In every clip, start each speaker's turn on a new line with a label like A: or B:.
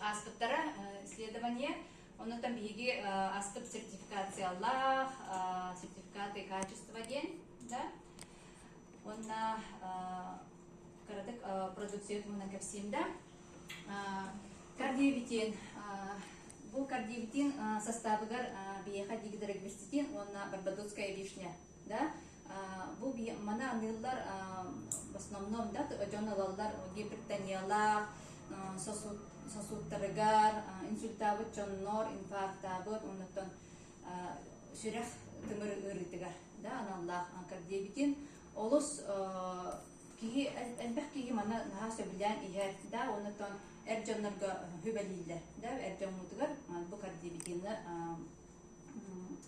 A: Ааспыттара исследование Онутан биһиги астып сертификациялаах сертификаты качество диэн да уонна кыратык продукция туһунан кэпсиим да кардиовитин бу кардиовитин састаабыгар биһиэхэ диги уонна барбадосская вишня да бу маны аныыллар в основном да дьон ылаллар гипертониялаах сосудтарыгар инсультаабыт дьоннор инфарктаабыт оннуттан сүрэх тымыр ыарыытыгар да аналлаах анкардиабитин олус киһи элбэх киһи маны наһаа сөбүлээн иһэр да оннуттан эр дьоннорго хүбэлииллэр да эр дьоммутугар бу кардиабитины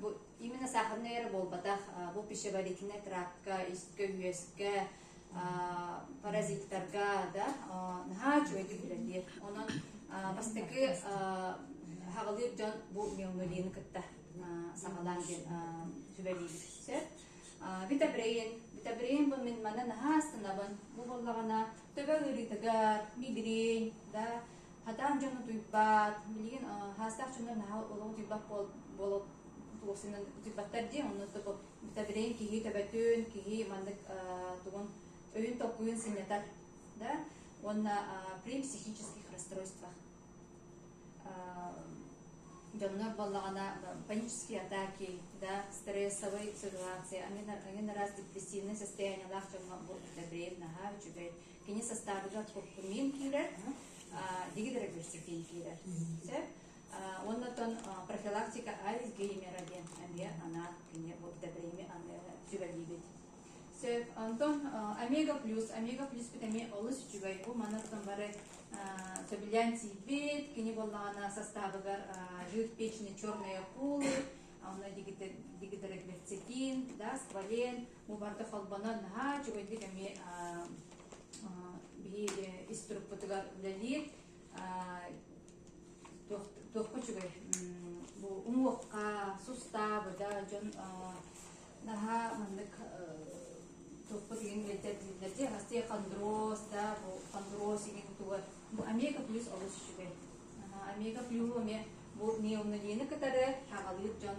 A: Бу именно сахарный эрэ буолбатах бу пищеварительнай трапка, искэ, үөскэ, паразиттарга да наһаа үчүгэй киһилэр диир. Онон бастакы хаҕылыыр дьон бу миомалины кытта саҕалаан диэн сүбэлиибит сөп. Витабрейн. Витабрейн бу мин мана наһаа станабын. Бу боллаҕына төбө ыарыытыгар, мигрень, да Хатаан дьон утуйбат, билигин хаастаах дьоннор наһаа олоҕу утуйбат буола туохсунан утуйбаттар дии, онно битadrень киһи төбөтүн, киһи маннык тугун өйүн-толкуйун сынньатар, да уонна при психических расстройствах дьоннор буоллаҕына панические атаки, да, стрессовые ситуации, они на раз депрессивное состояниелаах дьоҥҥо бу битadрень наһаа үчүгэй Кини састаабыгар куркумиин киирэр, дигид регрессивдиин киирэр. Сөп? Оннотон профилактика Альцгеймера диэн эмиэ анаат кине вот добрыми сүбэлиибит. Сөп. Антон омега плюс, омега плюспут эмиэ олус үчүгэй. Бу манаттан бары сөбүлээн тиийбит. Кини буоллаҕына састаабыгар жир печени черные акулы, онно дигидрегверцетин, да, сквален, Ол барда холбонон наһаа үчүгэйдик эми биһиги ис турукпутугар үлэлиир туохка үчүгэй бу уҥуохха сустаа быда дьон наһаа маннык туппут игин билдердилерди хасты хондроз да бу хондроз игин тугар бу омега плюс олус үчүгэй омега плюс эме бу неонолені кытары хагалыыр дьон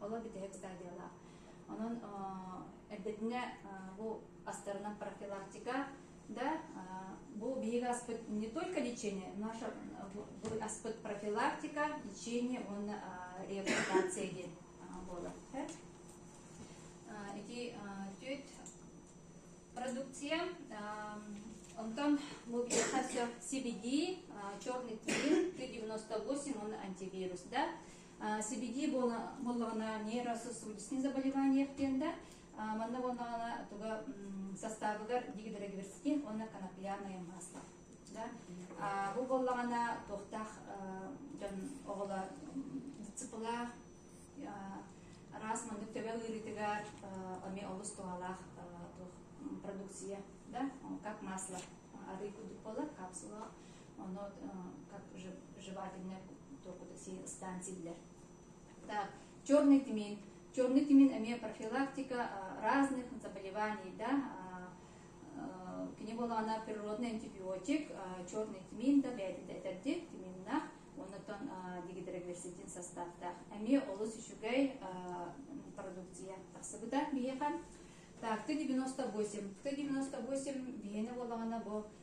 A: Оло бүтэһик стадиялаах. Онон эрдэтингэ бу астарына профилактика да бу биһиги аспыт не только лечение, наше аспыт профилактика, лечение он реабилитация диэн буолар. Ити түт продукция Онтон бұл все CBD, черный клин, Т-98, он антивирус, да. сибиди буоллаҕына нейрососудистые заболевания диэн да манна буоллаҕына туга састаабыгар дигидрогиверскин уонна конопляный масло да бу буоллаҕына туохтаах дьон оҕолор цыпылаах раз мандык төбө ыырытыгар ами олус туһалаах продукция да как масло арый кудук болар капсула Ону как жевательнай торкутаксиин ыстаан силлэр. Так, черный тмин. Черный тмин эмиэ профилактика разных заболеваний, да, к нему она природный антибиотик, черный тмин, да, бэйэтин этэрдик, тминнах, оннутан дигидрогликсидин составтах. Эми олус үчүгэй продукция тахсыбыта биһиэхэн. Так, ты 98, ты 98 биһиэне болағана бу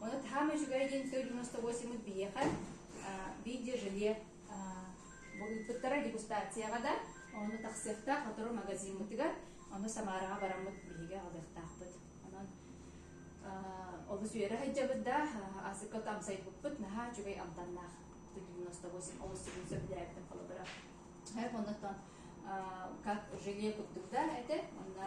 A: Оны таһаам үчүгэй диэн сто девяносто восемь биһиэхэ видеожиле ыыппыттара дегустацияҕа да ону тахсыахтаах сотору магазиммытыгар ону Самараҕа бараммыт биһиги алдыахтаахпыт онон олус үөрэ сылдьабыт да асыкка амсайбыппыт наһаа үчүгэй амтаннаах сто девяносто восемь олус сүрүн сөбүлээбитим холобура оннуттан как желе курдук да этэ онно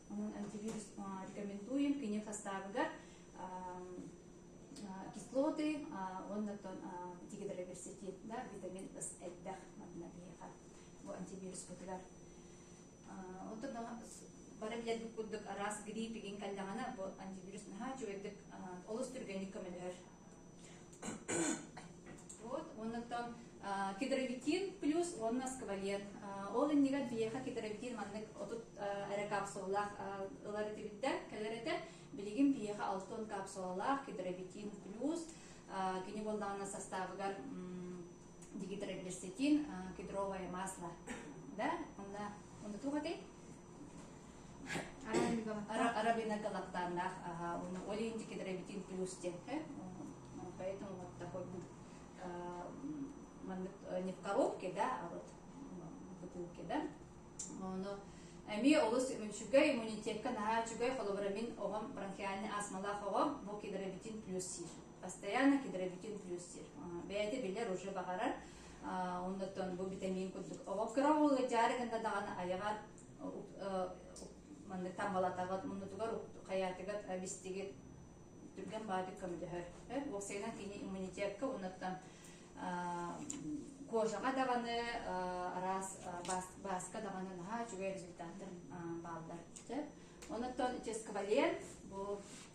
A: Онон антивирус рекомендуем кини хастаабыгар кислоты уонна тигидроверситин да витамин ыс элбэх манна биһиэхэ бу антивируспутугар оттон бары билэрбит курдук араас гриппигин кэллэҕинэ бу антивирус наһаа үчүгэйдик олус түргэнник көмөлөһөр Вот, оннуктан кедровитин плюс уонна сквалет. Ол иннигэр биһиэхэ кедровитин маннык отут эрэ капсулалаах ылар этибиттэр, кэлэр этэ. Билигин биһиэхэ алтын капсулалаах кедровитин плюс кини буоллаҕына састаабыгар дигидроглисетин кедровое масло. Да? Онна, онна туох этэй? Арабина Галактанах, ол инди кедробитин плюс те, поэтому вот такой будет маннык не в коробке, да, а вот в бутылке, да. Оно Эми олус үчүгэй иммунитетка наһаа үчүгэй холобурамин оҕом бронхиальный астмалаах оҕом бу кедробитин плюс сир. Постоянно кедробитин плюс сир. Бэйэтэ билэр уже баҕарар оннуттан бу витамин курдук оҕо кыра уолга дьаары гынна даҕаны айаҕар маннык таммалатаҕыт муннутугар хаятыгар бистигит түргэн баадык көмөлөһөр уоксайынан кини иммунитекка оннуттан кожаға даҕаны араас баска даҕаны наһаа үчүгэй результаттар бааллар Онуттан Ческвален бу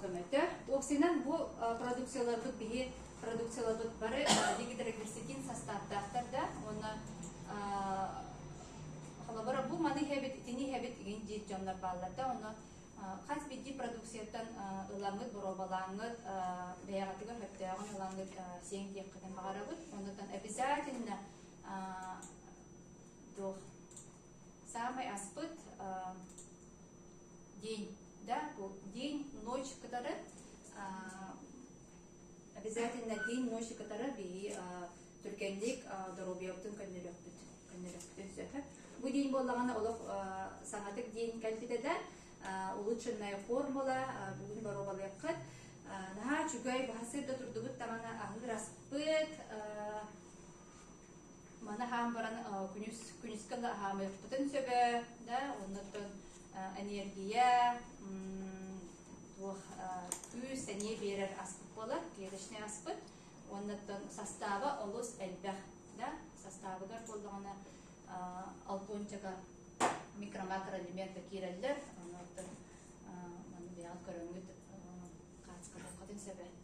A: Көмөтө. Уопсайынан бу продукцияларбыт биһи продукцияларбыт бары дигидрогексикин састааптаахтар да уонна холобура бу маны иһэбит итини иһэбит игин диир дьоннор бааллар да ону хас бидди продукцияттан ыламмыт боруобалааммыт бэйэҕитигэр мөптөөҕүн ылаҥҥыт сиэҥ диэххитин баҕарабыт оннуттан обязательно туох Саамай аспыт день, да, бу день, ночь, который обязательно день, ночь, который би түргэнник доруобуйабытын көннөрөхпүт көннөрөхпүтүн сөп. Бу день боллаҕына олох саҥатык день кэлбитэ да улучшенная формула бүгүн боруобалыаххыт наһаа үчүгэй баһасыр да турдубут даҕаны аһыыр аспыт Маны аһаан баран күнүс күнүскэ да аһаамыахпытын сөбө да оннуттан энергия туох күүс сэниэ биэрэр аспыт буолар клеточный аспыт уоннаттан састааба олус элбэх да састаабыгар буоллаҕына албончака микромакроэлемента киирэллэр оннуттан маны бэйэҕит көрөҥҥүт хаачкалыаххытын сөбө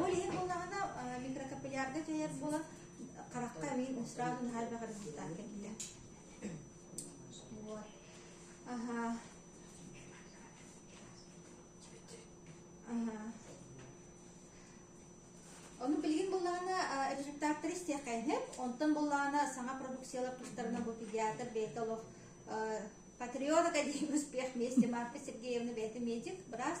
B: Ол иһин буоллаҕына микрокапиллярга дьайар буолан харахха эмиин сразу наһаа бөх результат кэлбитэ. Вот. Ага. Ага. Ону билигин буллаҕына результаттары истиэхэйнеп, онтон буллаҕына саҥа продукциялар тустарына бу педиатр бэйэтэ олох патриоток один успех вместе Марфа Сергеевна бэйэтэ медик, брас